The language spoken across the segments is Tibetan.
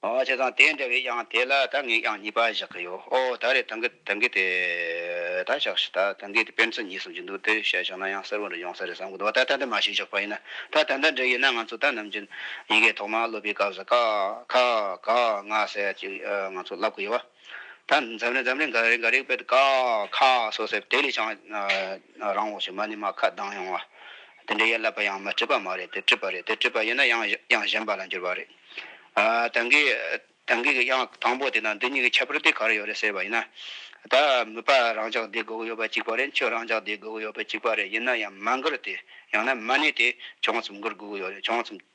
བྱས་ཙང་དེ་འདྲ་བའི་དབྱངས་དེ་ལ་ད་ངས་དབྱངས་གཉིས་པ་བཞག་གི་ཡོད། ཨོ་ད་རེད་ད་འགི་ད་འགི་དེ་ད་བཞག་ཤི་ད་ད་འགི་དེ་སྤེན་ཚེ་གཉིས་གསུམ་གྱི་འདུག་དེ་བཤད་བཞག་ན་ཡང་གསེར་བུ་འདྲ་ཡོང་ས་རེད་བསམ་གི་འདུག་ད་ད་འདི་མ་ཤི་བཞག་པ་ཡིན་ན་ད་ད་འདི་འདྲ་ཡིན་ན་ང་ཚོ་ད་ནམ་རྒྱུན་ཡི་གེ་ཐོག་མ་སློབ་པའི་སྐབས་སུ་ཀ་ཁ་ག་ང་ཟེར་ཡ་ཅིག་ང་ཚོ་བསླབ་གི་ཡོད། ད་འཛམ་རེ་འཛམ་རེ་འགའ་རེ་འགའ་རེའི་དཔེར་ཀ་ཁ་སོགས་ཟེར་དེ་ལས་ཀྱང་རང་འོག་གི་མ་ནི་མ་ཁ་གདངས་ཡོང་བ། དེ་འདྲའི་ཡན་ལག་པ་ཡང་མ་བྲིས་པ་མ་རེད་དེ་བྲིས་པ་རེད་དེ་བྲིས་པ་ཡིན་ན་ཡང་དབྱངས་གཞན་པ་ལ་འགྱུར་བ་རེད། དེང་གི་དེང་གི་གི་དབྱངས་དང་པོ་དེ་དང་འདི་གཉིས་ཀྱི་ཁྱད་པར་དེ་ག་རེ་ཡོད་རེད་ཟེར་བ་ཡིན་ན། ད་མི་པ་རང་ཅག་འདི་སྒུག་ཡོད་པ་གཅིག་པ་རེད་ཁྱོད་རང་ཅག་འདི་སྒུག་ཡོད་པ་གཅིག་པ་རེད་ཡིན་ན་ཡང་མ་འགུར་དེ་ཡང་ན་མ་ནི་དེ་བྱུང་ཙམ་འགུར་སྒུག་ཡོད་རེད་བྱུང་ཙམ།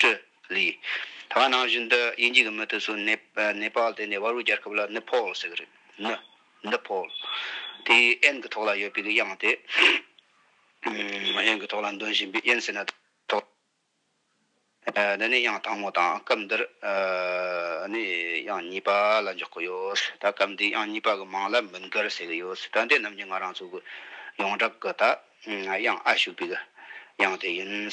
ཀྲི་ལི། ད་ང་ནང་བཞིན་དུ་དབྱིན་ཇི་གི་མི་དེ་ཚོ་ནེ་ནེ་པལ་དེ་ནས་བ་རུ་རྒྱལ་ཁབ་ལ་ནི་ཕོལ་ཟེར་གི་རེད་ནི་ནི་ཕོལ། དེ་ཨེན་གི་ཐོག་ལ་ཡོད་པའི་གི་དབྱངས་དེ། ཨེན་གི་ཐོག་ལ་འདོན་བཞིན་པའི་ཨེན་ཟེར་ན་ཐོག། འདི་ནི་དབྱངས་དང་མོ་དང་སྐབས་འདིར་ནི་དབྱངས་གཉིས་པ་ལ་འཇོག་གི་ཡོད། ད་སྐབས་འདིའི་དབྱངས་གཉིས་པ་གི་མང་ལ་མི་འགལ་ཟེར་གི་ཡོད། ད་འདི་རྣམས་ཀྱི་ང་རང་ཚོ་གི་ཡོངས་གྲགས་གི་ད་དབྱངས་ཨ་ཞུགས་པའི་གི་དབྱངས་དེ་ཡིན།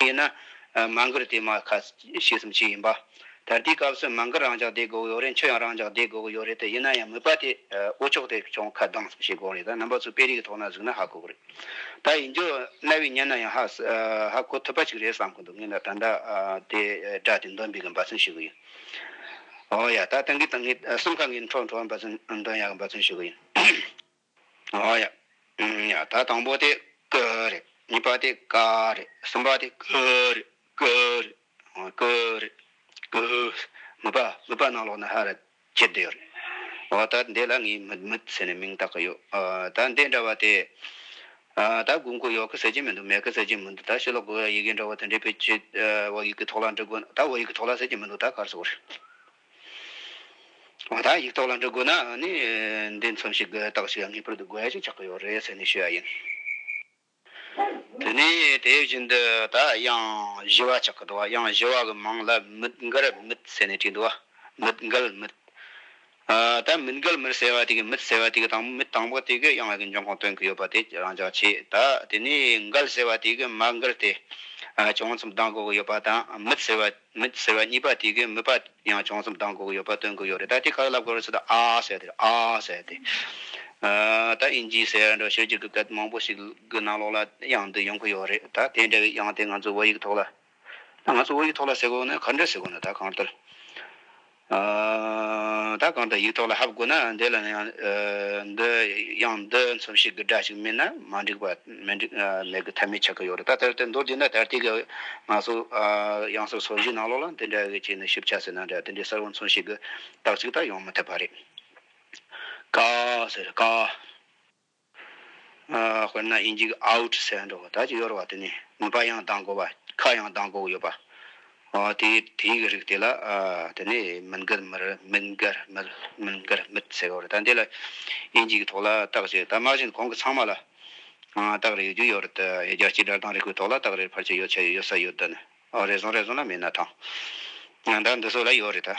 དེས་ན། མ་མགུར་དེ་མ་ཁ་ཤས་སུམ་ཅུ་ཡིན་པ། ད་ལྟའི་སྐབས་སུ་མ་མགུར་རང་འཇགས་བསྡད་དགོས་ཡོད་རེད་མཆོད་ཡང་རང་འཇགས་བསྡད་དགོས་ཡོད་རེད་དེ་ཡིན་ན་ཡང་མོས་པ་དེ་ཨོ་ཅོག་དེ་ཅུང་ཁ་གདངས་སམ་ཞེས་དགོངས་རེད་ད་རྣམ་པ་ཚོ་དཔེ་རིས་ཀྱི་ཐོག་ན་གཟིགས་ན་ཧ་གོ་གི་རེད་ད་ཡིན་རྒྱུ་གནའ་བོའི་སྙན་ན་ཡང་ཧ་གོ་ཐུབ་པ་ཞིག་རེད་བསམ་གི་འདུག་ངས་ད་ད་ལྟ་དེ་སྒྲ་དེ་འདོན་པའི་འབའ་ཚུལ་ཞུ་གི་ཡིན། ཨོ་ཡ་ད་ད་ངས་ད་ངས་སེམས་ཁ་ངས་འཕྲོག་འཕྲོག་འབའ་ཚུལ་འདོན་ཡ་གི་འབའ་ཚུལ་ཞུ་གི་ཡིན། ད་དང་པོ་དེ་ཀ་རེད་གཉིས་པ་དེ་ཀ་རེད་གསུམ་པ་དེ་ཀུ་རེད་ཀུ་རེད་ཀུ་རེད་ཀུ་མི་པ་མི་པ་ནང་ལོགས་ན་ཧ་ར་ཅི་བདེ་རེད་འོ་ད་འདི་ལ་ངས་མི་མི་ཟེར་ནས་མིང་བཏགས་ཀྱི་ཡོད་ད་འདི་འདྲ་བ་དེ་ད་དགོས་མཁོ་ཡོད་ཀི་ཟེར་གྱི་མི་འདུག་མེད་ཀི་ཟེར་གྱི་མི་འདུག་ད་ཕྱི་ལོགས་དགོས་ཡ་ཡི་གེ་འདྲ་བ་དེ་འདྲས་པས་ཅི་བོད་ཡིག་གི་ཐོག་ལ་འབྲི་དགོས་ན་ད་བོད་ཡིག་གི་ཐོག་ལ་ཟེར་གྱི་མི་འདུག་ད་གར་སོང་བ་རེད། ཨོ་ད་ཡིག་ཐོག་ལ་འབྲི་དགོས་ན་ནི་འདི་མཚོན་ཞིག་དགོས་རྟགས་ཤིག་ངེས་པར་དུ་དགོས་ཞེས་ཆགས་ཀྱི་ཡོད་རེད་ཟེར་ནས་ཤོད་ཡ་ཡིན། དེ་ནས་དེ་བཞིན་དུ་ད་དབྱངས་བཞི་བ་ཆགས་ཀྱི་འདུག་དབྱངས་བཞི་བ་གི་མིང་ལ་མིད་མགར་མིད་ཟེར་ནས་བྲིས་འདུག་མིད་མགལ་མིད། ད་མིད་མགལ་མིད་ཟེར་བ་དེ་གི་མིད་ཟེར་བ་དེ་གི་དང་པོ་མིད་དང་པོ་དེ་གི་དབྱངས་ཀྱི་འབྱུང་ཁུངས་སྟོན་གྱི་ཡོད་པ་དེ་རང་ཅག་ཆེས་ད་དེ་ནས་མགལ་ཟེར་བ་དེ་གི་མ་མགལ་དེ་བྱུང་མཚམས་གདངས་དགོས་ཀྱི་ཡོད་པ་དང་མིད་ཟེར་བ། མིད་ཟེར་བ་གཉིས་པ་དེ་གའི་མིད་པ་ཡང་བྱང་སེམས་གདངས་གོ་གི་ཡོད་པ་སྟོན་གི་ཡོད་རེད་ད་དེ་ཁ་ལབ་གོ་རེ་ཟེར་ད་ཨ་ཟེར་དེ་ཨ་ཟེར་དེ། ད་ཨིན་ཇི་ཟེར་ཡང་འདྲ་ཤོད་ཀྱི་གི་གད་མང་པོ་ཞིག་གི་ནང་ལོགས་ལ་དབྱངས་འདི་ཡོང་གི་ཡོད་རེད་ད་དེ་འདྲ་བའི་དབྱངས་དེ་ང་ཚོའི་བོད་ཡིག་གི་ཐོག་ལ། ང་ཚོའི་བོད་ཡིག་ཐོག་ལ་ཟེར་གོ་ནི་ག་འདྲ་ཟེར་གོ་ནི་ད་གང་ལྟར། ད་གང་དུ་ཡིག་ཐོག་ལ་ཧབ་དགོས་ན་འདི་ལ་ཡང་འདི་ཡང་འདི་འཚོ་བྱེད་ཀྱི་སྒྲ་ཞིག་མིན་ན་མ་འགྲིག་པ་མེད་ཀྱི་ཐབས་མེད་ཆགས་ཀྱི་ཡོད་རེད་ད་ལྟར་དེ་མདོར་བསྡུས་ན་ད་ལྟའི་ང་ཚོ་གཡང་ས་སོ་བཞིའི་ནང་ལོགས་ལ་འདི་འདྲ་ཞིག་ཞིབ་ཆ་ཟེར་ན་འདྲ་འདི་འདྲའི་གསར་བ་འཚོ་བྱེད་ཀྱི་རྟགས་གཅིག་དག་ཡོང་མི་ཐུབ་པ་རེད། ཀ། ཟེར། ཀ། དཔེར་ན་ཨིན་ཇིའི out ཟེར་འགྲོ་བ་དག་ཅིག་གཡོར་བ་དེ་ནི་མུན་པ་ཡང་ལྡང་དགོས་པ་ཁ་ཡང་ལྡང་དགོས་ཡོད་པ། དེ་དེའི་གི་རིགས་དེ་ལ་དེ་ནི་མིན་གར་མི་རི་མིན་གར་མིལ་མིན་གར་མིད་ཟེར་བ་རེད་ད་འདི་ལ་ཨིན་ཇིའི་གི་ཐོག་ལ་རྟགས་བཅས་ད་དམག་བཞིན་གོང་གི་ཚང་མ་ལ་རྟགས་རེ་ཡོད་རྒྱུ་ཡོད་རེད་ཡོད་རྒྱ་སྤྱི་དགྲར་དང་རི་ཁུལ་ཐོག་ལ་རྟགས་རེ་ཕར་ཆེར་ཡོད་ཆེར་ཡོད་ས་ཡོད་དོ་ནི་རེ་ཟུང་རེ་ཟུང་ན་མེད་ན་ཐང་ང་ད་འདི་སོ་ལ་ཡོད་རེད་ད།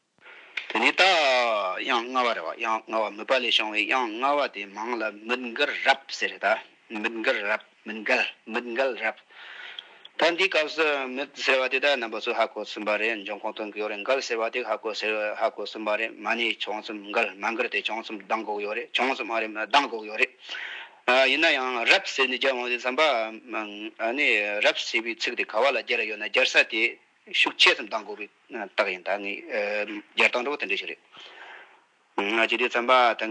དེ་ནས་ད་དབྱངས་ལྔ་བ་རེད་བ་དབྱངས་ལྔ་བ་མུད་པ་ལས་བྱུང་བའི་དབྱངས་ལྔ་བ་དེ་མང་ལ་མུད་མགར་རབ་ཟེར་རེད་ད་མུད་མགར་རབ་མུད་མགལ་མུད་མགལ་རབ་ད་འདིའི་སྐབས་སུ་མུད་ཟེར་བ་དེ་དག་རྣམ་པ་ཚོས་ཧ་གོ་བསུན་པ་རེད་འབྱུང་ཁུངས་སྟོན་གི་ཡོད་རེད་མགལ་ཟེར་བ་དེ་ཧ་གོ་ཟེར་ཧ་གོ་བསུན་པ་རེད་མ་ནི་བྱུང་རྩོམ་མགལ་མ་མགར་དེ་བྱུང་རྩོམ་གདངས་འགོག་ཡོད་རེད་བྱུང་རྩོམ་ཨ་རིམ་གདངས་འགོག་ཡོད་རེད་ཨ་ཡིན་ན་ཡང་རབ་ཟེར་ནས་བརྒྱབ་འོང་ཟེར་བསམ་པ་ཨ་ནི་རབ་ཟེར་བའི་ཚིག་དེ་ག་བ་ལ་སྦྱར་ཡོད་ན་སྦྱར་ས་དེ་ཤུགས་ཆེ་ཙམ་གཏང་དགོས་པའི་རྟགས་ཡིན་ད་ངས་སྦྱར་སྟངས་གྲོགས་པོ་དེ་འདྲ་ཞིག་རེད། ང་ཇི་དུས་བརྩམས་པ་ད་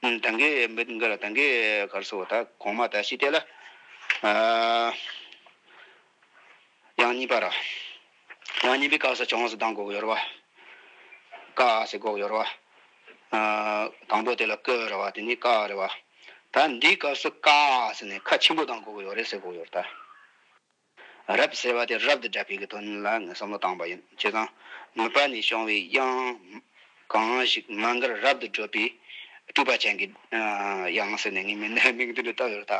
གིན། ད་གིན་མི་འགའ་ལ་ད་གིན་གར་སོང་ད་གོང་མ་ད་ཤི་དེ་ལ་ཡང་གཉིས་པ་ར། ཡང་གཉིས་པའི་སྐབས་སུ་བྱང་སུ་གདངས་གོག་ཡོར་བ། ཀ་ཟེར་གོག་ཡོར་བ། དང་པོ་དེ་ལ་ཀི་རེད་བ་དེ་ནས་ཀ་རེད་བ། ད་འདིའི་སྐབས་སུ་ཀ་ཟེར་ནས་ཁ་ཆེན་པོ་གདངས་གོག་ཡོར་རེད་ཟེར་གོག་ཡོར་ད། རབ་ཟེར་བ་དེ་རབ་ཏུ་བསྒྲལ་བས་ཀྱི་དོན་ལ་ངས་བསམ་བློ་བཏང་བ་ཡིན། བྱས་ཙང་ངོས་པ་ནས་བྱུང་བའི་དབྱངས། གང་ཞིག་མ་འགར་རབ་ཏུ་བགྲོད་པའི་སྤྲུལ་པ་ཅན་གྱི་དབྱངས་ཟེར་ནས་ངས་མི་སྣའི་མིང་དོན་དུ་བཏགས་ཡོད་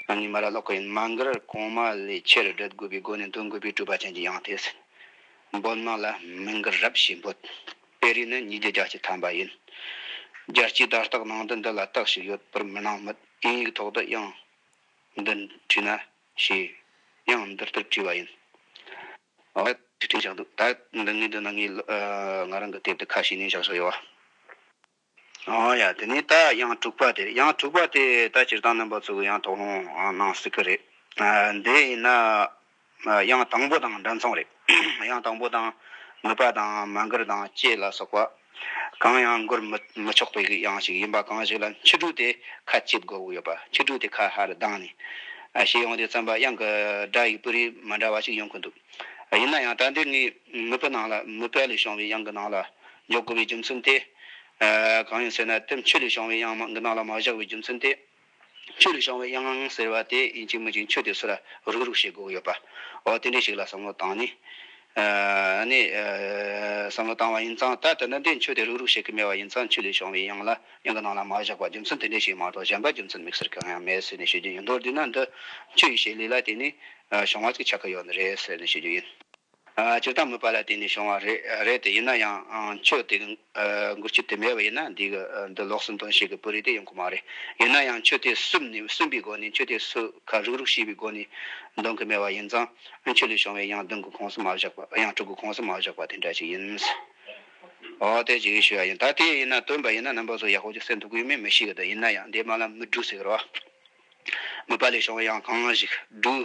ད། ངས་མ་ར་ལོག་གི་ཡིན། མ་འགར་གོང་མ་ལས་ཆེར་བགྲོད་དགོས་པའི་སྒོ་ནས་འདོན་དགོས་པའི་སྤྲུལ་པ་ཅན་གྱི་དབྱངས་དེ་ཟེར། འབོད་སྣང་ལ་མི་འགར་རབ་ཞེས་འབོད། དཔེ་རིས་ནི་ཉིས་བརྒྱ་རྒྱ་སྐྱེགས་ཐམ་པ་ཡིན། རྒྱ་སྐྱེགས་དར་རྟགས་ནང་དུ་འདི་ལ་རྟགས་ཤིག་ཡོད་པར་མི་སྣང་མོད་དབྱིན་ཡིག་ཐོག་ཏུ་དབྱངས་འདི་བྲིས་ན། ཞེས་ཡང་འདིར་ལྟར་དྲིས་པ་ཡིན། ཨ། ཁྲིད་ཕྲན་ཞག་འདུག་ད། འདི་ངའི་འདོད་ན་ངའི། ང་རང་གི་དེབ་དེ་ཁ་ཞེ་གཉིས་བཞག་ཆོག་ཡོད་བ། ཨ། ཡ་དེ་ནས་ད་དབྱངས་དྲུག་པ་དེར་དབྱངས་དྲུག་པ་དེ་ད་སྤྱིར་བཏང་རྣམ་པ་ཚོས་ཡང་དོགས་སློང་གནང་སྲིད་ཀྱི་རེད། དེ་ཡིན་ན། དབྱངས་དང་པོ་དང་འདྲ་མཚུངས་རེད། དབྱངས་དང་པོ་དང། མོས་པ་དང་མ་མགུར་དང་བཅས་ལ་སོགས་པ། གང་ཡང་བསྒུར་མི་ཆོག་པའི་ཡང་ཞིག་ཡིན་པ་གང་ཞིག་ལ་ཁྱི་ཕྲུག་དེ་ཁ་གཅིག་དགོ་གི་ཡོད་པ་ཁྱི་ཕྲུག་དེ་ཁ་ཧ་རུ་གདངས་ནས་ཤེས་ཡོང་དེ་བརྩམས་པ་གཡང་གི་སྒྲ་ཡིག་སྤུ་རིས་མི་འདྲ་བ་ཞིག་ཡོང་གི་འདུག་ཡིན་ན་ཡང་ད་ལྟའི་ངའི་མི་བུ་ནང་ལ་མི་བལ་ལས་བྱུང་བའི་གཡང་གི་ནང་ལ་འཇོག་དགོས་པའི་རྒྱུ་མཚན་དེ། གང་ཡིན་ཟེར་ན་དེབ་མཆོད་ལས་བྱུང་བའི་གཡང་གི་ནང་ལ་མ་བཞག་པའི་རྒྱུ་མཚན་དེ། ཆོས་ལུགས་བྱང་བའི་དབྱངས་ངང་ཟེར་བ་དེ་ཡིན་གཅིག་མིན་གཅིག་མཆོད་དེ་སུ་ལ་རུག་རུག་བྱེད་དགོས་ཡོད་པ། འོ་དེ་འདྲའི་ཞིག་ལ་བསམ་བློ་བཏང་ནི། ནི། བསམ་བློ་བཏང་བ་ཡིན་ཙང་ད་དེ་འདྲ་འདི་མཆོད་དེ་རུག་རུག་བྱེད་གི་མེད་བ་ཡིན་ཙང་ཆོས་ལུགས་བྱང་བའི་དབྱངས་ལ་དབྱངས་ཀྱི་ནང་ལ་མ་བཞག་པ་རྒྱུ་མཚན་དེ་འདྲའི་ཞིག་མ་གཏོགས་གཞན་པ་རྒྱུ་མཚན་དམིགས་བསལ་གང་ཡང་མེད་ཟེར་ནས་ཤོད་རྒྱུ་ཡིན་མདོར་བསྡུས་ན་འདི་ཆོས་ཡིན་ཞེས་ལུས་ལ་དེ་ནི་བྱུང་བ་གཅིག་ཆགས་ཀྱི་ཡོད་ནི་རེད་ཟེར་ནས་ཤོད་རྒྱུ་ཡིན། སྤྱིར་བཏང་མོས་པ་ལ་བརྟེན་ནས་བྱུང་བ་རེད་དེ། ཡིན་ན་ཡང་ཆོས་དེ་མགུར་ཆུ་དེ་མེད་པ་ཡིན་ན་འདི་ལོགས་སུ་འདོན་ཤེས་ཀྱི་པོ་རེད་དེ་ཡོང་གི་མ་རེད། ཡིན་ན་ཡང་ཆོས་དེ་སུབ་ནས་སུན་པའི་སྒོ་ནས་ཆོས་དེ་སུ་ཁ་རུག་རུག་བྱས་པའི་སྒོ་ནས་འདོན་གྱི་མེད་པ་ཡིན་ཙང་ཨུན་ཆོས་ལས་བྱུང་བའི་ཡང་འདོན་གྱི་ཁོངས་སུ་མ་བཞག་པ་ཡང་སྤྲུག་གི་ཁོངས་སུ་མ་བཞག་པ་དེ་འདྲ་ཞིག་ཡིན། འོ་དེ་ཅིག་ཞུ་ཡ་ཡིན་ད་དེ་ཡིན་ན་སྟོན་པ་ཡིན་ན་རྣམ་པ་ཚོ་ཡག་པོ་ཅིག་སེམས་འདུག་གི་མེད་མི་ཤེས་གི་འདུག་ཡིན་ན་ཡང་འདི་མ་ལ་མི་སྦྲུག་ཟེར་གི་རེད་བ། མོས་པ་ལས་བྱུང་བའི་ཡང་གང་ཞིག་སྦྲུག།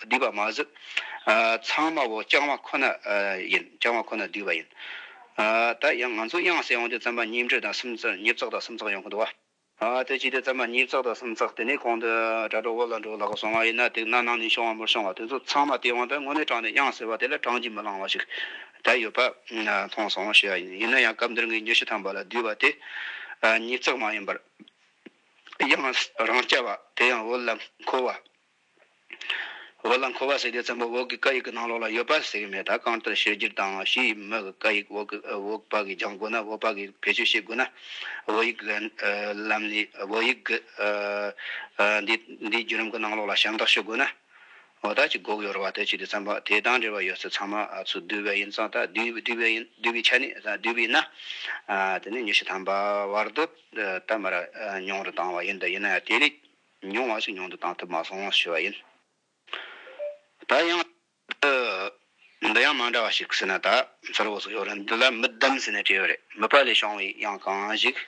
བསྡུས་པ་མ་ཟད། ཚང་མ་བོ་རྐྱང་བ་ཁོ་ན་ཡིན་རྐྱང་བ་ཁོ་ན་བསྡུས་པ་ཡིན། ད་ཡང་ང་ཚོ་དབྱངས་གསལ་ཡོང་དུས་རྩམ་པ་ཉིས་འབྲུ་དང་སུམ་རྩ་ཉིས་བཙག་དང་སུམ་རྩག་ཡོང་གི་འདུག་བ། དེ་བྱས་དུས་རྩམ་པ་ཉིས་བཙག་དང་སུམ་རྩག་དེ་ནས་གོང་དུ་དྲ་གྲོགས་བོ་ལ་འགྲོ་ལགས་སོང་བ་ཡིན་ན་དེ་གནའ་ནང་ནས་བྱུང་བ་མུར་སོང་བ་དེ་ཚོ་ཚང་མ་སྟེས་དབང་པའི་དངོས་གནས་དྲངས་ནས་དབྱངས་གསལ་བ་དེ་ལ་དྲངས་ཀྱིས་མི་ལང་བ་ཞིག་ད་ཡོད་པ་མཐོང་སོང་ཞེས་བ་ཡིན་ཡིན་ན་ཡང་སྐབས་འདིར་ངས་ཉི་ཤུ་ཐམ་པ་ལ་བསྡུས་པ་དེ་ཉིས་བཙག་མ་ཡིན་པར་དབྱངས་རང་རྐྱ་བ་དེ་ཡང་བོ་ལ་མཁོ་བ། འོག་ལ་འཁོར་བ་ཟེར་དེ་ཙམ་པོ་འོག་གི་བཀའ་ཡིག་གི་ནང་ལོགས་ལ་ཡོད་པ་ཟེར་གི་མེད་ད་གང་ལྟར་བཤད་རྒྱུར་དྭངས་བཞི་ཡི་མི་གི་བཀའ་ཡིག་འོག་འོག་པ་གིས་སྦྱང་དགོས་ན་འོག་པ་གིས་བེད་སྤྱོད་བྱེད་དགོས་ན་བོད་ཡིག་གི་ལམ་ནས་བོད་ཡིག་གི་འདི་འདི་བརྒྱུད་ལམ་གི་ནང་ལོགས་ལ་ཞབས་འདེགས་ཞུ་དགོས་ན་འོ་ད་ཅི་འགོག་ཡོད་རེད་བ་ད་ཅི་དེ་ཙམ་པོ་དེ་དང་འབྲེལ་བ་ཡོད་ཚད་ཚང་མ་ཚུར་བསྡུས་པ་ཡིན་ཙང་ད་བསྡུས་བསྡུས་པའི་ཡིན་བསྡུས་པའི་ཆ་ནས་བསྡུས་པའི་ཡིན་ན་དེ་ནས་ཉི་ཤུ་ཐམ་པ་བར་དུ་ད་མར་མྱོང་རུ་བཏང་བ་ཡིན་ད་ཡིན་ན་ཡང་དེ་ལས་མྱོང་བ་ཞིག་མྱོང་དུ་བཏང་ཐུབ་མ་སོང་ཞུས་པ་ཡིན། ད་ཡང། འདི་ཡང་མ་འདྲ་བ་ཞིག་ཟེར་ན་ད་གསལ་བོ་ཟིག་ཡོད་རེད་འདི་ལ་མི་བདམས་ཟེར་ནས་བྲིས་ཡོད་རེད་མི་པ་ལས་བྱུང་བའི་ཡང་གང་ཞིག།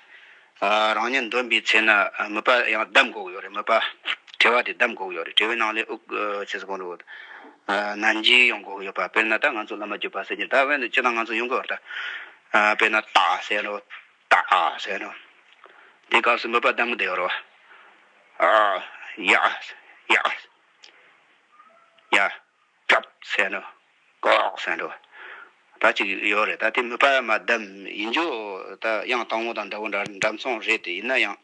རང་ཉིད་འདོན་པའི་ཚེ་ན་མི་པ་ཡང་བདམས་དགོས་ཀྱི་ཡོད་རེད་མི་པ། དྲི་བ་དེ་བདམས་དགོས་ཀྱི་ཡོད་རེད་དྲི་བའི་ནང་ལས་དབུས་ཆེ་ས་གང་རུང་ན་འཇིག་ཡོང་དགོས་ཀྱི་ཡོད་པ་དཔེར་ན་ད་ང་ཚོ་བླ་མ་བརྒྱུད་པ་ཟེར་གྱི་ད་བོད་ནས་ཅི་དང་ང་ཚོ་ཡོང་གི་ཡོད་རེད་ད། དཔེར་ན་ད་ཟེར་རོ། དག་ཨ་ཟེར་ནོ། དེའི་སྐབས་སུ་འབོད་པ་ལྡང་མི་བདེ་བར་བ། ཨ། ཡ། ཡ། ཡ། ཀྲབ་ཟེར་ནོ། ཀོག་ཟེར་འགྲོ། ད་ཅིག་ཡོད་རེད་ད་དེ་མི་ཕ་མ་བདམས་ཡིན་འགྱོ། ད་དབྱངས་སྟག་མོ་དང་འདྲ་བོ་འདྲ་འདྲ་མཚུངས་རེད་དེ་ཡིན་ན་ཡང།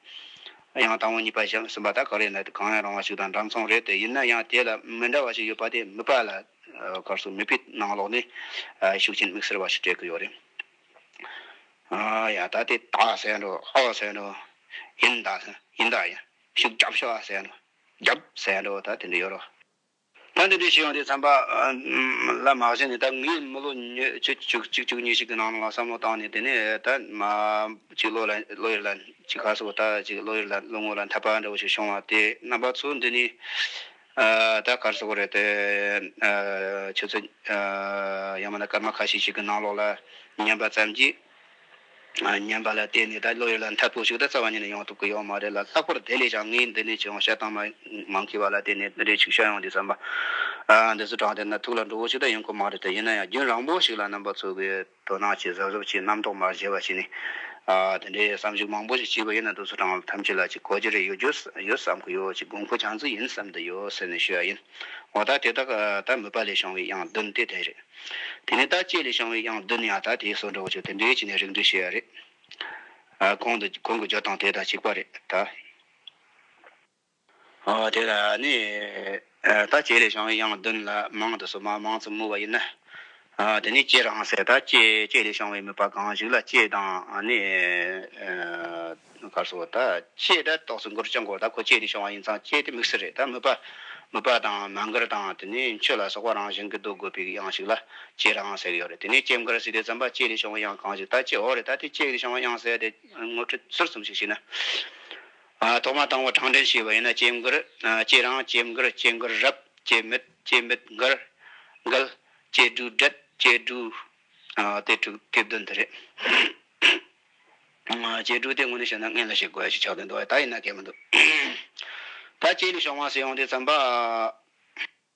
དབྱངས་སྟག་མོ་གཉིས་པ་བཞམས་ཟིན་པ་ད་ག་རེ་ན་དེ་གང་ཡང་རང་བ་ཞིག་དང་འདྲ་མཚུངས་རེད་དེ་ཡིན་ན་ཡང་དེ་ལ་མི་འདྲ་བ་ཞིག་ཡོད་པ་དེ་མི་ཕ་ལ། སྐར་གསུམ་མི་ཕའི་ནང་ལོགས་ནས། ཤུགས་ཆེན་དམིགས་བསལ་བ་ཞིག་སྤྲད་ཀྱི་ཡོད་རེད། ཡ་ད་དེ་ད་ཟེར་འགྲོ་ཨོ་ཟེར་འགྲོ། ཡིན་ད་ཟེར་ཡིན་ད་ཡིན་ཤུགས་རྒྱབ་ཤོག་ཨ་ཟེར་འགྲོ། རྒྱབ་ཟེར་འགྲོ་ད་དེ་འདྲ་ཡོད་རོགས། ད་འདི་འདྲའི་ཞིག་ཡོང་དུས་བསམ་པ། ལ་མ་ཟེར་ནས་ད་ངས་མི་ལོ་བཅུ་བཅུ་གཉིས་ཤིག་གི་ནང་ལ་བསམ་བློ་བཏང་ནས་དེ་ནས་ད་མ་གཅིག་ལོ་ལ་ལོ་ཡོད་ལ་གཅིག་ག་སོ་ད་གཅིག་ལོ་ཡོད་ལ་ལོ་ངོ་ལ་འཐབ་པ་འདྲ་བོ་ཞིག་བྱུང་བ་དེ་རྣམ་པ་ཚོ་འདི་ནས་ད་གར་སོག་རེད་དེ། ཁྱོད་ཚོ། ཡང་མིན་ན་སྐར་མ་ཁ་ཤས་ཤིག་གི་ནང་ལོགས་ལ། ཉན་པ་ཙམ་གྱིས། ཉན་པ་ལ་བརྟེན་ནས་ད་བློ་ཡུལ་ལ་མཐའ་ཕུག་ཞིག་ད་རྩ་བ་ཉིད་ནས་ཡོང་ཐུབ་ཀྱི་ཡོད་མ་རེད་ལ་ལྷག་པར་དེ་ལས་ཀྱང་ངའི་འདི་ནས་ཅུང་ཤ་ཐང་མ་མང་མཁས་པ་ལ་བརྟེན་ནས་འདི་འདྲའི་ཆུ་ཤ་ཡང་འདི་ཙམ་པ། འདི་ཚོ་དྲངས་ཏེ་ན་ཐུག་ལ་འགྲོ་བོ་ཞིག་ད་ཡོང་གི་མ་རེད་དེ་ཡིན་ན་ཡང་རྒྱུན་རང་བོ་ཞིག་ལ་རྣམ་པ་འཚོལ་གྱི་ཡོད། དོ་སྣང་བྱེད་གཟབ་གཟབ་བྱེད་རྣམ་རྟོག་མར་བྱེད་པ་བྱེད་ནས། དེ་འདྲའི་བསམ་གཞིག་མང་པོ་ཞིག་བྱས་པ་ཡིན་ན་དུས་ཚོད་གྲངས་ཐམས་ཅད་ལ་ཅིག་གོ་རྒྱུ་རེ་ཡོད་ཡོད་བསམ་གྱི་ཡོད་ཅིག་དགོས་མཁོ་ཆང་ཙིག་ཡིན་བསམ་དུ་ཡོད་ཟེར་ནས་ཞུས་པ་ཡིན། འོ་ད་དེ་དག་ད་མོས་པ་ལས་བྱུང་བའི་དབྱངས་བདུན་དེ་དེ་རེད། དེ་ནས་ད་བཅས་ལས་བྱུང་བའི་དབྱངས་བདུན་ཡང་ད་དེའི་སོར་འགྲོ་བ་ཆོས་དེ་འདྲའི་ཅིག་ནས་རིགས་འགྲེ་ཞུས་ཡ་རེད། གོང་གི་སྦྱོར་སྟངས་དེ་ད་གཅིག་པ་རེད་ད། དེ་ལ་ནི་ད་བྱས་ལས་བྱང་གི་དབྱངས་བདུན་ལ་མང་དུ་སོ་མ་མང་ཙམ་སྨོས་པ་ཡིན་ན། དེ་ནི་བསྐྱེད་རང་བསལ་ད་བསྐྱེད་བསྐྱེད་ལས་བྱང་བའི་མོས་པ་གང་ཞིག་ལ་བསྐྱེད་དང་ནི། གར་སོགས་ད་བསྐྱེད་ད་རྟོགས་སུ་འགོར་བྱ་འགོར་ད་གོ་བསྐྱེད་ལས་བྱང་བ་ཡིན་ཙང་བསྐྱེད་དེ་དམིགས་བསལ་རེད་ད་མོས་པ་མོས་པ་དང་མ་འགར་དང་དེ་ནི་མཆོད་ལ་སོགས་པ་རང་བཞིན་གྱི་ཟློག་དགོས་པའི་དབྱངས་ཤིག་ལ་བསྐྱེད་རང་བསལ་གྱི་ཡོད་རེད་དེ་ནི་སྐྱེམས་འགར་སྲིད་དེ་ཙམ་པ་བསྐྱེད་ལས་བྱང་བའི་དབྱངས་གང་ཞིག་ད་བསྐྱེད་འོག་རེད་ད་དེ་བསྐྱེད་ལས་བྱང་བའི་དབྱངས་བསལ་དེ་ངོ་སྤྲོད་ཟུར་གསུམ་ཞིག་བྱས་ན། ཐོག་མ་དང་བོ་དྲང་བདེན་ཞུས་པ་ཡིན་ན་སྐྱེ་མགུར། སྐྱེ་རང། སྐྱེ་མགུར། སྐྱེ་མགུར་རབ། སྐྱེ་མེད། སྐྱེ་མེད་མགུར། མགུལ། སྐྱེ་སྦྲུལ་བྲེད། སྐྱེ་སྦྲུལ། དེ་དྲུག་དེབ་བདུན་དུ་རེད། སྐྱེ་སྦྲུལ་དེ་དངོས་ནས་བཤད་ན་མངལ་ལ་ཞིག་དགོས་ཞེས་ཆགས་དོན་འདུག་བ་ཡིན་ད་ཡིན་ན་སྐད་མི་འདུག། ད་སྐྱེས་ནས་ཤོང་བ་སྲིད་ཡོང་དེ་ཙམ་པ།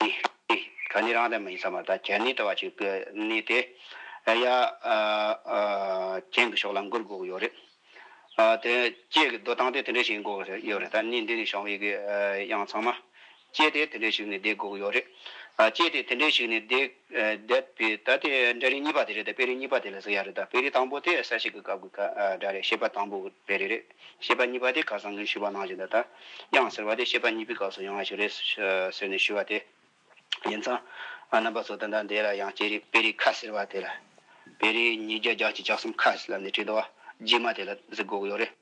ནི་ནི། ག་ནི་རང་དང་མ་ཡིན་ས་མ་ད་གྱ་ནི་ད་བ་ཅིག་གི་ནི་དེ། ཡ། གྱེན་གྱི་ཕྱོགས་ལ་མགུར་གུག་ཡོད་རེད། དེ། སྐྱེས་ཀྱི་འདོད་སྟངས་དེ་དེ་འདྲ་ཞིག་འགོག་ཡོད་རེད་ད་ནི་འདི་ནི་ཞང་བའི་གི་དབྱངས་ཚང་མ། སྐྱེས་དེ་དེ་འདྲ་ཞིག་ནི་བསྡད་གུག་ཡོད་རེད། སྐྱེས་དེ་དེ་འདྲ་ཞིག་ནི་བསྡད། བསྡད་པའི་ད་དེ་འདྲ་རིགས་གཉིས་པ་དེ་རེད་དཔེ་རིས་གཉིས་པ་དེ་ལ་ཟེར་ཡག་རེད་ད་བེ་རིས་དང་པོ་དེ་ས་ཞིག་གི་སྐབས་ཀྱི་སྒྲ་རེད་ཤེས་པ་དང་པོ་བེ་རིས་རེད་ཤེས་པ་གཉིས་པ་དེ་ག་ས་ངས་ཞུས་པ་ནང་བཞིན་དུ་ད་དབྱངས་ཟེར་བ་དེ་ཤེས་པ་གཉིས་པའི་སྐབས་སུ་ཡང་ཞིག་རེད་ཟེར་ནས་ཞུས་བ་དེ་ཡིན་ཙང་རྣམ་པ་ཚོ་དེ་འདྲ་འདས་ལ་ཡང་སྐྱེས་རིགས་དཔེ་རིས་ཁ་ཟེར་བ་དེ་ལ་བེ་རིས་ཉིས་བརྒྱ་བརྒྱ་ཆའི་བཅུ་གསུམ་ཁ་ཟེར་ལ་ནས་བྲིས་འདུག་བ་རྗེས་མ་དེ་ལ་གཟིགས་དགོས་ཀྱི་ཡོད་རེད།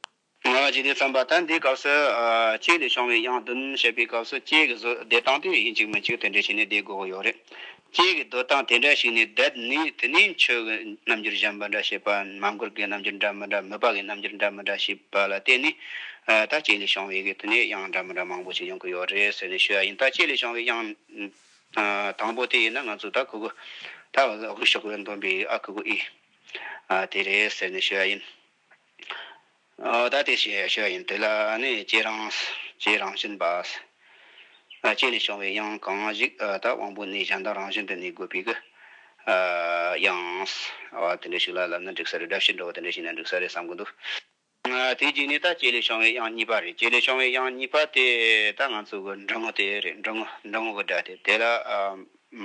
ང་ལ་ཅི་སྟེ་བརྩམས་པ་དང་འདིའི་སྐབས་སུ། ཅིག་ལས་བྱུང་བའི་དབྱངས་བདུན་བཤད་པའི་སྐབས་སུ་ཅིག་གི་གཟུགས་བདེ་སྟངས་དེ་ཡིན་ཅིག་མིན་ཅིག་དེ་འདྲའི་ཞིག་ནི་བདེ་དགོས་ཀྱི་ཡོད་རེད། ཅིག་གི་འདོད་སྟངས་དེ་འདྲ་ཞིག་ནི་བདེ། དེ་ནི་ཆོས་ཀྱི་རྣམ་འགྱུར་གཞན་པ་འདྲ་ཞེས་པ་མ་མགུར་གྱི་རྣམ་འགྱུར་འདྲ་མི་འདྲ་མོས་པ་གྱི་རྣམ་འགྱུར་འདྲ་མི་འདྲ་ཞེས་པ་ལ་བརྟེན་ནས། ད་ཅིག་ལས་བྱུང་བའི་གི་དེ་ནི་དབྱངས་འདྲ་མི་འདྲ་མང་པོ་ཞིག་ཡོང་གི་ཡོད་རེད་ཟེར་ནས་ཞུ་ཡ་ཡིན་ད་ཅིག་ལས་བྱུང་བའི་དབྱངས། དང་པོ་དེ་ཡིན་ན་ང་ཚོས་ད་གུ་གུ། ད་གུ་གུ་ཞོགས་པའི་འདོན་པའི་ཨ་གུ་གུ་ཨི། དེ་རེད་ཟེར་ནས་ཞུ་ཡ་ཡིན། བདག་དེ་ཞེས་བྱ་བ་ཡིན། དེ་ལ་ནི་ལྕེའི་རང་བཞིན་པ། ལྕེ་ནི་བྱུང་བའི་དབྱིངས་གང་ཞིག་དག་དབང་པོ་ནི་གཞན་དག་རང་བཞིན་དུ་ནི་དགོས་པའི་དབྱིངས། དེ་འདྲ་ཞིག་ལ་ལབ་ན་འགྲིག་ས་རེད་སྒྲ་ཕྱིར་འགྲོ་བ་དེ་འདྲ་ཞིག་ན་འགྲིག་ས་རེད་བསམ་གྱི་འདུག། དེའི་རྗེས་ནས་ད་ལྕེ་ལས་བྱུང་བའི་དབྱིངས་གཉིས་པ་རེད་ལྕེ་ལས་བྱུང་བའི་དབྱིངས་གཉིས་པ་དེ་ད་ང་ཚོ་གི་འབྲི་ངོ་དེ་རེད་འབྲི་ངོ་འབྲི་ངོ་གི་སྒྲ་དེ་དེ་ལ་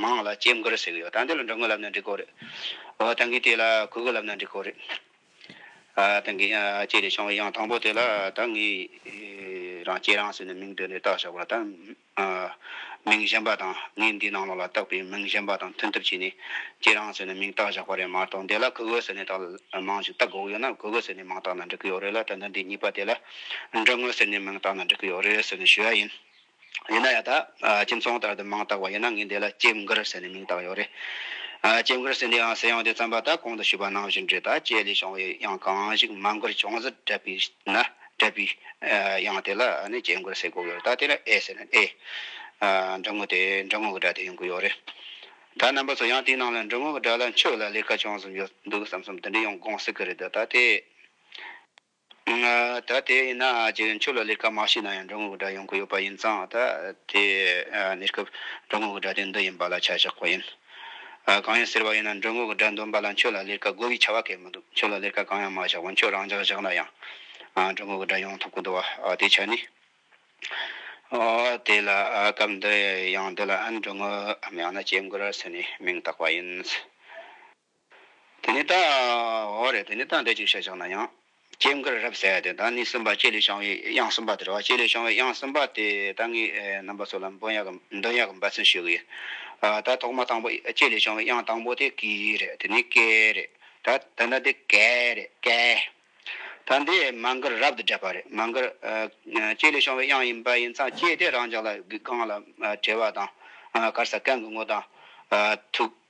མང་ལ་ལྕེ་མགུར་ཟེར་གྱི་ཡོད་ད་འདི་ལ་འབྲི་ངོ་ལབ་ན་འགྲིག་གོ་རེད་འོ་ད་གིས་དེ་ལ་གུ་གུ་ལབ་ན་འགྲིག་གོ་རེད། ད་གིན་ཅེས་ནས་བྱུང་བའི་དབྱངས་དང་པོ་དེ་ལ་ད་ངས་རང་སྐྱེས་རང་ཟེར་ནས་མིང་བཏོན་ནས་བཏགས་བཞག་པ་ལ་ད་མིང་གཞན་པ་དང་ངས་འདིའི་ནང་ལོགས་ལ་བཏགས་པའི་མིང་གཞན་པ་དང་མཐུན་ཐབས་བྱས་ནས་སྐྱེས་རང་ཟེར་ནས་མིང་བཏགས་བཞག་པ་རེད་མ་གཏོགས་འདི་ལ་གུ་གུ་ཟེར་ནས་དག་མང་ཞིག་བཏགས་དགོས་ཀྱི་ཡོད་ན་གུ་གུ་ཟེར་ནས་མིང་བཏགས་ན་འགྲིག་གི་ཡོད་རེད་ལ་ད་འདི་གཉིས་པ་དེ་ལ་འབྲི་ངོ་ཟེར་ནས་མིང་བཏགས་ན་འགྲིག་གི་ཡོད་རེད་ཟེར་ནས་ཞུ་ཡ་ཡིན། ཡིན་ན་ཡང་དག་ཁྱིམ་ཚང་ལྟར་དུ་མིང་བཏགས་པ་ཡིན་ན་ངས་འདི་ལ་ལྕེབས་མགུར་ཟེར་ནས་མིང་བཏགས་ཡོད་རེད། ལྕེབས་མགུར་ཟེར་འདིའང་ཟེར་ཡང་དེ་རྩམ་པ་དག་གོང་དུ་ཞུས་པ་ནང་བཞིན་འབྲི་དག་ཅེས་ལས་བྱུང་བའི་དབྱངས་གང་ཞིག་མ་མགུར་བྱུང་ཟེར་སྤྲད་པས་ན་སྤྲད་པའི་དབྱངས་དེ་ལ་ནི་ལྕེབས་མགུར་ཟེར་དགོས་ཀྱི་རེད་ད་དེ་ལ་ཨེ་ཟེར་ན་ཨེ། འབྲི་དངོས་དེ་འབྲི་དངོས་ཀྱི་སྒྲ་དེ་ཡིན་དགོས་ཡོད་རེད། ད་རྣམ་པ་ཚོ་ཡང་དེའི་ནང་ལ་འབྲི་དངོས་ཀྱི་སྒྲ་ལ་འཆོས་ལ་ལས་ཀ་བྱུང་བསམ་ཡོད་འདུག་བསམ་བསམ་དེ་འདྲས་ཡང་དགོངས་སྲིད་ཀྱི་རེད་དོ་ད་དེ། ད་དེ་ཡིན་ན་རྗེས་འཇུག་ལ་ལས་ཀ་མ་བྱས་ན་ཡང་འབྲི་ངོ་གི་སྒྲ་ཡོང་གི་ཡོད་པ་ཡིན་ཙང་ད་དེ་གནས་སྐབས་འབྲི་ངོ་གི་སྒྲ་དེ་འདི་ཡིན་པ་ལ་ཆ་བཞག་པ་ཡིན། གང་ཡིན་ཟེར་བ་ཡིན་ན་འབྲི་ངོ་གི་སྒྲ་འདོན་པ་ལ་ཁྱོད་ལ་ལས་ཀ་དགོས་ཀི་ཆ་བ་གས་མི་འདུག་ཁྱོད་ལ་ལས་ཀ་གང་ཡང་མ་བཞག་པར་ཁྱོད་རང་འཇགས་བཞག་ན་ཡང་འབྲི་ངོ་གི་སྒྲ་ཡོང་ཐུབ་ཀི་འདུག་བ་དེའི་ཆ་ནི། དེ་ལ་སྐབས་འདི་ཡང་འདི་ལ་འབྲི་ངོ་མ་ཡང་ན་སྐྱེ་འགོ་ར་ཟེར་ནས་མིང་བཏགས་པ་ཡིན། དེ་ནས་ད་འོ་རེད་དེ་ནས་ད་འདི་ཅིག་བཤད་ཅིག་ན་ཡང། སྐྱེས་འགར་རབ་གསལ་དེ་ད་ནི་སེམས་དཔའ་ལྕེ་ལས་བྱང་བའི་དབྱངས་གསུམ་པ་དེ་རེད་བ་ལྕེ་ལས་བྱང་བའི་དབྱངས་གསུམ་པ་དེ་ད་ངས་རྣམ་པ་ཚོ་ལ་འབུམ་ཡག་གམ་འདོན་ཡག་གམ་འབད་བརྩོན་ཞུ་གི་ཡོད། ད་ཐོག་མ་དང་པོ་ལྕེ་ལས་བྱང་བའི་དབྱངས་དང་པོ་དེ་ཀི་རེད་དེ་ནས་ཀེ་རེད་ད་ད་ནི་འདི་ཀེ་རེད་ཀེ། ད་འདི་མ་འགར་རབ་ཏུ་སྦྲེལ་པ་རེད་མ་འགར། ལྕེ་ལས་བྱང་བའི་དབྱངས་ཡིན་པ་ཡིན་ཙང་ལྕེ་དེ་རང་ཅག་ལ་གི་རྐང་ལ་བྲེལ་བ་དང། དཀར་ས་རྐན་གི་ངོ་དང། ཐུགས།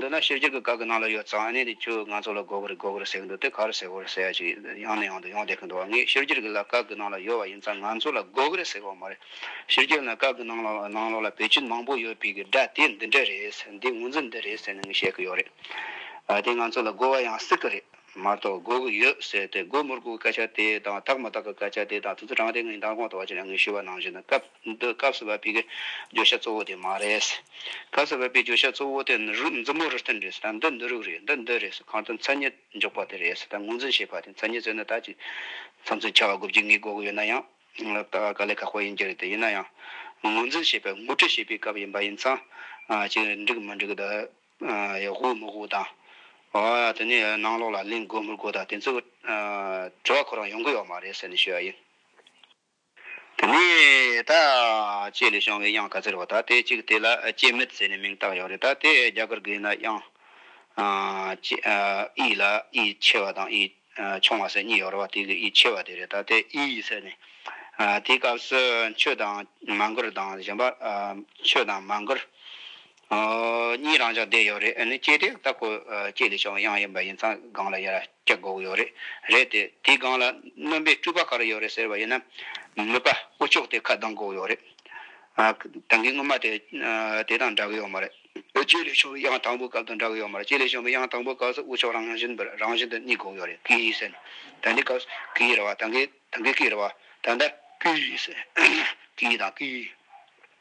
འདི་ན་ཤེས་བྱ་གི་སྐབས་ཀྱི་ནང་ལ་ཡོད་ཙང་ཨནེ་དེ་ཁྱོད་ང་ཚོ་ལ་གོ་གི་རེད་གོ་གི་རེད་ཟེར་གྱི་འདུག་དེ་ག་རེ་ཟེར་བར་ཟེར་ཡ་ཞིག་ཡང་ནས་ཡང་དུ་ཡོང་བསྡད་ཀྱི་འདུག་བ་ངས་ཤེས་བྱ་གི་ལ་སྐབས་ཀྱི་ནང་ལ་ཡོད་བ་ཡིན་ཙང་ང་ཚོ་ལ་གོ་གི་རེད་ཟེར་བ་མ་རེད། ཤེས་བྱ་གི་ལ་སྐབས་ཀྱི་ནང་ལ་ནང་ལོགས་ལ་བེད་སྤྱོད་མང་པོ་ཡོད་པའི་གི་སྒྲ་དེ་འདི་འདྲ་རེད་འདི་ངོ་འཛིན་འདི་རེད་ཟེར་ནས་ངས་བཤད་ཀྱི་ཡོད་རེད། དེ་ང་ཚོ་ལ་གོ་བ་ཡང་སྲིད་ཀྱི་རེད། མ་གཏོགས་སྒོ་དགུ་ཡོད་ཟེར་ཏེ་སྒོ་མུར་སྒུག་གི་སྐད་ཆ་དེ་དང་དག་མ་དག་གི་སྐད་ཆ་དེ་དང་དུས་ཚོད་གྲངས་དེ་ངའི་མདང་དགོང་དུ་བ་ཅི་ལ་ངེས་ཞུས་པ་ནང་བཞིན་དུ་སྐབས་འདི་སྐབས་གསར་པ་པའི་བརྗོད་བྱ་གཙོ་བོ་དེ་མ་རེད། སྐབས་གསར་པ་པའི་བརྗོད་བྱ་གཙོ་བོ་དེ་ནི་རུས་མཛུབ་མོ་རུ་བསྟན་རེད་ཟེར་དང་འདི་འདི་རུག་རེད་འདི་འདི་རེད་ཟེར་གང་ལྟར་མཚན་ཉིད་འཇོག་པ་དེ་རེད་ཟེར་དང་ངོས་འཛིན་བྱེད་པ་དེ་མཚན་ཉིད་བཟོས་ནས་ད་ཅི་མཚམས་མཚམས་ཆར་བ་དགུ་བརྒྱུད་ངའི་སྒོ་དགུ་ཡོད་ན་ཡང་ད་དཀའ་ལས་ཁག་པོ་ཡིན་གྱི་རེད་དེ་ཡིན་ན་ཡང་ངོས་འཛིན་བྱེད་པའི་ངོ་སྤྲོད་བྱེད་པའི་སྐབས་ཡིན་པ་ཡིན་ཙང་ཅི་འགྲིག་མི་འགྲིག་དེ་ཡོད་དགོས་མི་དགོས་དང། དེ་ནས་ནང་ལོགས་ལ་གླེང་དགོས་མི་དགོས་དང་དེ་ཚོའི་དྲི་བ་ཁོ་རང་ཡོང་གི་ཡོད་མ་རེད་ཟེར་ནས་ཞུས་པ་ཡིན། དེ་ནས་ད་ཅེས་ལས་བྱང་བའི་དབྱངས་ག་ཟེར་བ་དང་དེ་གཅིག་དེ་ལ་ཅེས་མེད་ཟེར་ནས་མིང་བཏགས་ཡོད་རེད་ད་དེ་རྒྱ་གར་གི་ཡིན་ན་དབྱངས་ཅེས་ཨི་ལ་ཨི་ཆེ་བ་དང་ཨི་ཆུང་བ་ཟེར་གཉིས་ཡོད་རེད་བ་དེ་གི་ཨི་ཆེ་བ་དེ་རེད་ད་དེ་ཨི་ཟེར་ནས་དེའི་སྐབས་སུ་མཆོད་དང་མ་འགུར་དང་གཞན་པ་མཆོད་དང་མ་འགུར་གཉིས་རང་འཇགས་བསྡད་ཡོད་རེད་ཨ་ནི་སྐྱེས་དེ་ལྟ་ཁོ་སྐྱེས་ལས་ཤོག་གཡང་ཡིན་པ་ཡིན་ཚང་སྒང་ལ་ཡར་སྐྱ་སྒོག་ཡོད་རེད་རེད་དེ་དེའི་སྒང་ལ་རྣོན་པའི་སྤྲུལ་པ་ག་རེ་ཡོད་རེད་ཟེར་བ་ཡིན་ན་མོས་པ་དབུ་ལྕོག་དེ་ཁ་གདངས་སྒོག་ཡོད་རེད་ད་གིན་སྔོན་མ་དེ་དེ་དང་འདྲ་གི་ཡོད་མ་རེད་ཨོ་སྐྱེས་ལས་ཤོག་གི་གཡང་དང་པོའི་སྐབས་དང་འདྲ་གི་ཡོད་མ་རེད་སྐྱེས་ལས་ཤོག་གི་གཡང་དང་པོའི་སྐབས་སུ་དབུ་ལྕོག་རང་བཞིན་པོ་རང་བཞིན་དུ་གཉིས་སྒོག་ཡོད་རེད་ཀི་ཟེར་ནས་ད་འདི་སྐབས་སུ་གི་རེད་བ་ད་གིན་ད་གིན་ཀི་རེད་བ་ད་ལྟ་ཀི་ཟེར་ཀི་དང་ཀི།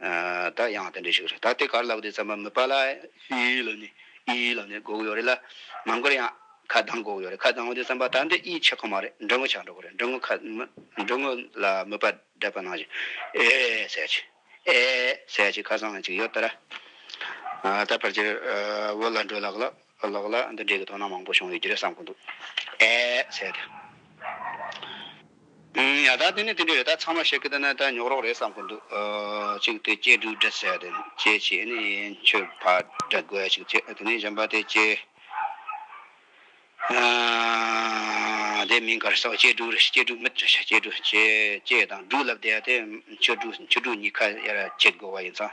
ད་ཡང་དེ་འདྲ་ཞིག་རེད་ད་དེ་གར་ལབ་དེ་ཚང་མ་མི་པ་ལ་ཨིའི་ལ་ནི་ཨིའི་ལ་ནི་གོག་ཡོད་རེད་ལ་མ་མགོར་ཡང་ཁ་གདངས་གོག་ཡོད་རེད་ཁ་གདངས་བ་དེ་ཚང་པ་ད་འདི་ཨིའི་ཆེ་ཁོ་མ་རེད་འབྲི་ངོ་ཆགས་འགྲོ་གོ་རེད་འབྲི་ངོ་ཁ་འབྲི་ངོ་ལ་མི་པ་འདྲ་པ་ནང་བཞིན་ཨེ་ཟེར་ཅིག་ཨེ་ཟེར་ཅིག་ཁ་སང་ཅིག་ཡོད་ད་ར་ད་ཕར་ཆེར་བོད་ལ་འགྲོ་ལགས་ལ། ཨ་ལགས་ལགས་འདི་འདྲའི་གི་དོ་སྣང་མང་པོ་བྱུང་ཡོད་ཀྱི་རེད་བསམ་གི་འདུག་ཨེ་ཟེར་ཏེ། ཨང་ཡ་ད་དེ་ནི་དེ་འདྲའི་རེད་ད་ཚང་མ་བཤད་གི་དེ་ནི་ད་ཉོག་རོགས་རེད་བསམ་གི་འདུག་ཅིག་དེ་སྐྱེས་དྲུག་འདྲ་ཟེར་དེ་སྐྱེས་ཆེ་ནི་ཡན་ཆོད་ཕ་འདྲ་དགོས་ཅིག་ཅེས་དེ་ནི་གཞན་པ་དེ་སྐྱེས་དེ་མིང་གར་སོགས་སྐྱེས་དྲུག་རེད་སྐྱེས་དྲུག་མི་འདྲ་ཤ་སྐྱེས་དྲུག་སྐྱེས་དང་དྲུག་ལབ་དེ་ཡ་དེ་ཆོས་དྲུག་ཆོས་དྲུག་གཉིས་ཁ་ཡར་ཁྱེར་དགོས་བ་ཡིན་ཙང།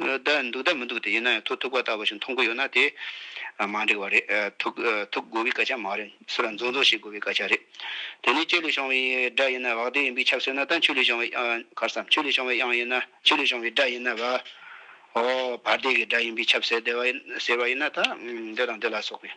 བདག་འདུག་བདག་མི་འདུག་དེ་ཡིན་ན་ཡང་ཐུག་ཐུག་པ་ལྟ་བུ་ཞིག་མཐོང་གི་ཡོད་ན་དེ་མ་འགྲིག་པ་རེད། ཐུག་ཐུག་དགོས་པའི་སྐད་ཆ་མ་རེད། སུ་ལ་འཛུགས་འཛུགས་ཤིག་དགོས་པའི་སྐད་ཆ་རེད། དེ་ནས་ལྕེ་ལས་བྱུང་བའི་སྒྲ་ཡིན་ན་བག་དེ་ཡིན་པའི་ཁྱབ་སོ་ན་ད་མཆུ་ལས་བྱུང་བའི་ཁར་སམ་མཆུ་ལས་བྱུང་བའི་དབྱངས་ཡིན་ན་མཆུ་ལས་བྱུང་བའི་སྒྲ་ཡིན་ན་བ་འོ་བར་དེ་གའི་སྒྲ་ཡིན་པའི་ཁྱབ་ཟེར་བ་ཡིན་ན་ད་འདི་དང་འདི་ལ་སོགས་པའི།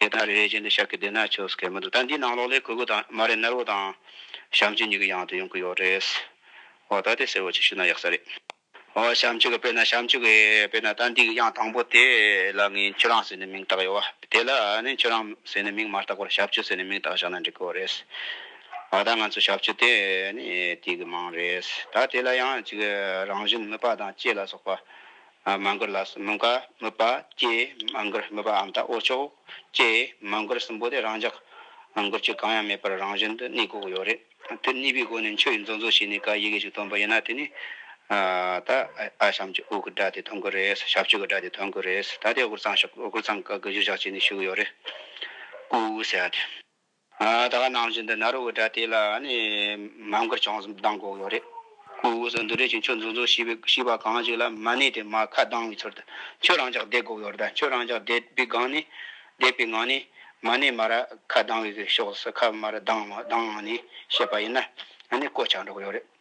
དེ་ལྟར་རེ་རེ་བཞིན་དུ་ཤག་གི་སྡེ་ནར་ཆོས་སྐད་མི་འདུག་ད་འདིའི་ནང་ལོགས་ལས་གོས་གོས་དང་མ་རེད་སྣར་བོ་དང། བྱམས་ཆོས་གཉིས་ཀྱི་ཡང་དུ་ཡོང་གི་ཡོད་རེད། ཨོ་ད་དེ་གསལ་བོ་ཅིག་ཞུས་ན་ཡག་ས་རེད། ཨོ་བྱམས་ཆོས་ཀྱི་དཔེར་ན་བྱམས་ཆོས་ཀྱི་དཔེར་ན་ད་འདིའི་དབྱངས་དང་པོ་དེ་ལ་ངས་ཁྱོད་རང་ཟེར་ནས་མིང་བཏགས་ཡོད། དེ་ལ་ནི་ཁྱོད་རང་ཟེར་ནས་མིང་མ་བཏགས་པར་ཞབས་ཆོས་ཟེར་ནས་མིང་བཏགས་བཞག་ན་འགྲིག་གི་ཡོད་རེད། ཨོ་ད་ང་ཚོའི་ཞབས་ཆོས་དེ་ནི་དུས་ཀྱི་མིང་རེད། ད་དེ་ལ་ཡང་ཅིག་རང་བཞིན་དམོད་པ་དང་བཅས་ལ་སོགས་པ་མ་མགུར་ལ་སོགས་མུ་ཀ་སྨོད་པ་སྐྱེས་མ་མགུར་སྨོད་པའམ་དག་འོག་ཕྱོགས་སྐྱེས་མ་མགུར་གསུམ་པོ་དེ་རང་འཇགས་མགུར་གཅིག་གང་ཡང་མེད་པར་རང་བཞིན་དུ་གནས་འགོག་ཡོད་རེད། དོན་གཉིས་པའི་སྒོ་ནས་མཆོད་ཡུལ་འཛོགས་འཛོགས་བྱས་ནས་ཀ་ཡི་གེ་ཞིག་སྟོན་པ་ཡིན་ན་དེ་ནི། ད་ཨ་ཤམ་གྱི་ཨུ་གི་སྒྲ་དེ་ཐོན་དགོས་རེད་ཞབས་ཆོས་ཀྱི་སྒྲ་དེ་ཐོན་དགོས་རེད་ད་དེ་ཨུ་གུར་ཚང་ཞབས་ཨུ་གུར་ཚང་ཀ་གི་གཞུ་བཞག་བྱས་ནས་བཞུགས་ཡོད་རེད། ཀུའུ་ཀུའུ་ཟེར་བ་དེ། ད་ག་ནང་བཞིན་དུ་ནཱ་རོ་གི་སྒྲ་དེ་ལ་ནི་མ་མགུར་བྱང་གསུམ་གདངས་དགོས་ཀྱི་རེད། སྐུ་གཟུགས་སུ་འདུ་འབྲེལ་གྱི་ཆོས་འཛུགས་འཛུགས་ཤིས་པའི་ཤིས་པ་གང་ཞིག་ལ་མ་གནས་ཏེ་མ་ཁ་གདངས་པའི་ཚུལ་དུ་ཁྱོད་རང་ཅག་བསྡད་དགོས་ཀྱི་རེད། ཁྱོད་རང་ཅག་བསྡད་པའི་སྒང་ནི། བསྡད་པའི་ངང་ནི། མ་གནས་མ་ར་ཁ་གདངས་པའི་ཕྱོགས་སུ་ཁ་མ་ར་གདངས་གདངས་ངང་ནས་བཤད་པ་ཡིན་ན་ནི་བཀོད་ཆགས་འགྲོ་གི་ཡོད་རེད།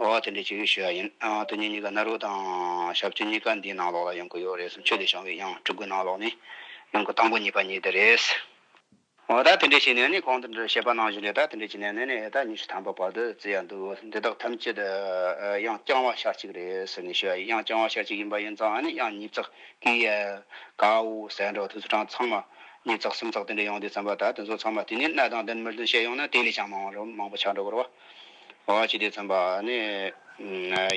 ཨོ་དེ་འདྲའི་བྱེད་ཡུལ་ཞུ་ཡ་ཡིན། དོན་གཉེར་གཉིས་ཀ་ནཱ་རོ་དང་ཞབས་ཀྱི་གཉིས་ཀ་འདིའི་ནང་ལོགས་ལ་ཡོང་གི་ཡོད་རེད་བསམ་ཆོས་ལས་བྱང་བའི་དབྱངས་སྤྲུལ་སྐུའི་ནང་ལོགས་ནས་ཡོང་གི་དང་པོ་གཉིས་པ་གཉིས་འདི་རེད། ཨོ་ད་དེ་འདྲའི་བྱེད་ནས་ནི་གང་དུ་འདྲི་ཞེས་པ་ནང་བཞིན་རེད་ད་དེ་འདྲའི་བྱེད་ནས་ནི་ཨེ་ད་ཉི་ཤུ་ཐམ་པ་བར་དུ་བརྩི་ཡ་འདུག་འདི་དག་ཐམས་ཅད་དབྱངས་རྐྱང་བ་ཤར་གཅིག་རེད་ཟེར་ནས་ཞུ་ཡ་ཡིན་དབྱངས་རྐྱང་བ་ཤར་གཅིག་ཡིན་པ་ཡིན་ཙང་ནི་དབྱངས་གཉིས་བརྩེགས་ཀི་ཡ་ག་འུ་ཟེར་འགྲོ་ཐུགས་སུ་དྲངས་ཚང་མ་གཉིས་བརྩེགས་གསུམ་བརྩེགས་དེ་འདྲའི་ཡོང་དུས་བརྩམས་པ་ད་དེ་ཚོ་ཚང་མ་དེ་ནས་གནའ་དང་བདུན་མི་བདུན་བཤད་ཡོང་ན་དེ་ལས་ཀྱང་མང་རུང་མང་པོ་ཆགས་འགྲོ་གི་རེད། བ་བ་ཅི་དེ་ཚན་པ་ནི་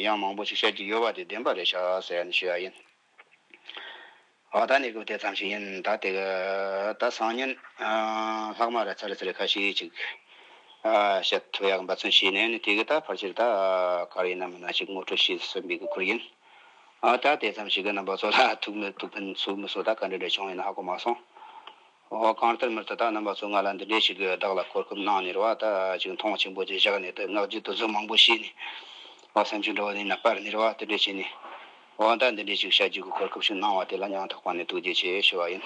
ཡང་མང་པོ་ཞིག་བཤད་ཀྱི་ཡོད་པ་དེ་བདེན་པ་རེད་ཤག་ཟེར་ནས་ཞུས་པ་ཡིན། བ་ད་ནི་གུ་དེ་ཙམ་ཞིག་ཡིན་ད་དེ་ག་ད་སང་ཉིན་ལྷག་མ་ར་ཚ་ར་ཚ་རེ་ཁ་ཤིག་ཅིག་བཤད་ཐུབ་ཡག་འབའ་ཚུན་ཞིག་ནས་ནི་དེ་གི་ད་ཕར་ཆེར་ད་གར་ཡིན་ན་མིན་ན་ཞིག་ངོ་སྤྲོད་ཤིས་སུ་འབིག་གི་ཁུར་ཡིན། ད་དེ་ཙམ་ཞིག་གི་རྣམ་པ་ཚོ་ལ་ཐུགས་མི་ཐུགས་ཕན་ཚུགས་མི་སོགས་ད་ག་འདྲ་འདྲ་བྱུང་ཡིན་ཧ་གོ་མ་སོང། ཨོ། གང་ལྟར་མི་དེ་དག་རྣམས་པ་ཚོ་ང་ལ་འདི་འདྲས་ཞིག་གིས་བདག་ལ་གོ་སྐབས་གནང་ནས་རེ་བ་ད་ཅིག་མཐོང་ཆེན་པོ་བཅས་བཞག་ནས་དུ་སྔགས་རྒྱུད་དུ་ཟུར་མང་པོ་བཤད་ནས་ཨོ། བསམ་ཆུ་འདྲ་བོ་ནི་ན་པར་ནས་རེ་བ་དེ་འདྲས་བྱས་ནས་ཨོ། ད་འདི་འདྲས་ཞིག་བྱ་རྒྱུའི་གོ་སྐབས་ཤིག་གནང་བ་དེ་ལ་སྙིང་ཐག་པ་ནས་ཐུགས་རྗེ་ཆེ་ཞུ་བ་ཡིན།